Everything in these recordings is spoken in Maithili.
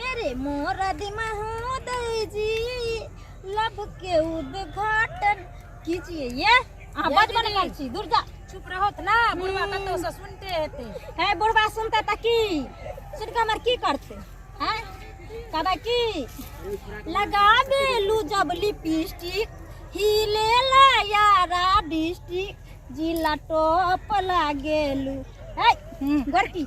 मेरे मोर दिमा हो दई जी लब के उद्घाटन कीजिए ये अहाँ बड बन गेल छी दूर जा चुप रहत ना बुढ़वा कतौ से सुनते हेते है बुढ़वा सुनते त की सुन के हमर की करते हैं कहबे की लगाबे लू जब लिपस्टिक हिले ला यारा डिस्ट्रिक्ट जिला टॉप लागेलू है गोरकी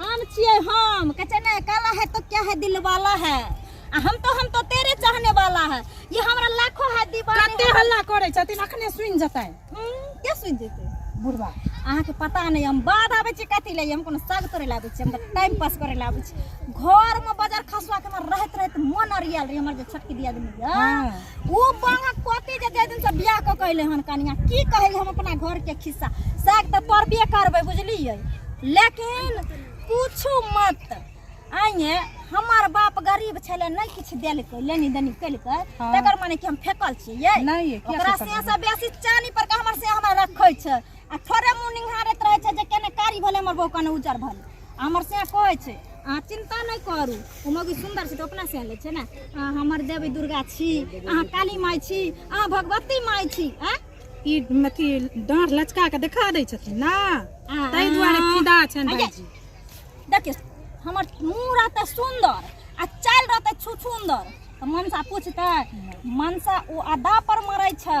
हम छिए हम कह छै ना काला है तो क्या है दिल वाला है आ हम तो हम तो तेरे चाहने वाला है ये हमरा लाखों है दीवाने कते हल्ला करै छथिन अखने सुनि जतै के सुनि जेतै बुढ़वा अहाँ के पता नै हम बाद आबै छी कथि लै हम कोनो साग तोड़े लाबै छी हम तऽ टाइम पास करे लाबै छी घर में बाजार खसुआ के हमर रहत रहत मन अरियाल रही हमर जे छटकी दिया देनी ओ बालक पति जे जाहि दिनसँ बियाह कऽ के अयलै हन कनिया की कहै हम अपना घरके खिस्सा साग तऽ पड़बे करबै बुझलियै लेकिन पूछू मत आइए हमर बाप गरीब छलै नहि किछु देलकै लेनी देनी केलकै हाँ। तकर माने कि हम फेकल छियै नहि ये, किया ओकरा फेकल से से बेसी चानी पर के हमर से हमरा रखै छै आ थोड़े मुँह निहारैत रहै छै जे केने कारी भेलै हमर बहू कने उजर भेलै हमर से कहै छै अहाँ चिन्ता नहि करू ओ मौगी सुन्दर छै तऽ अपना से लै छै ने अहाँ हमर देवी दुर्गा छी अहाँ काली माय छी अहाँ भगवती माय छी आँ ई अथी डाँढ़ लचका के देखा दै छथिन ना आ- ताहि दुआरे फिदा छनि आ- भाईजी देखियौ हमर मुँह रहतै सुन्दर आ चालि रहतै छुछुन्दर तऽ मनसा पूछतै मनसा ओ अदा पर मरै छै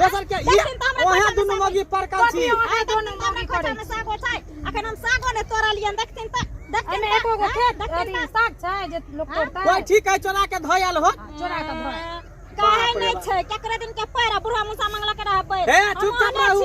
दोसर के ई ओहे दुनु मौगी परकल छी आ दुनु मौगी करे छै सागो छै अखन हम सागो ने तोड़लियन देखथिन त देखथिन एको गो खेत अथी साग छै जे लोक तोड़ता कोइ ठीक है चोरा के धयल हो चोरा के धयल काहे नै छै केकरा दिन के पैरा बुढ़ा मुसा मंगला के रहबै हे चुप चुप रहू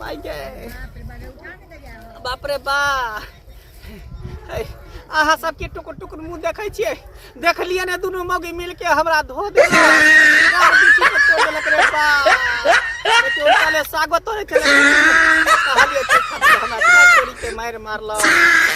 माय गे बाप रे बा है, अहाँ सबके टुकुर टुकुर मुंह देखै छियै देखलियै ने दुनू मौगी मिलके हमरा धो देलक गार बिछी के तोड़ देलक रे बा एते उनकाले सागो तोड़े छलै कहलियै तू खा, हमरा छोड़ के मारि मारलक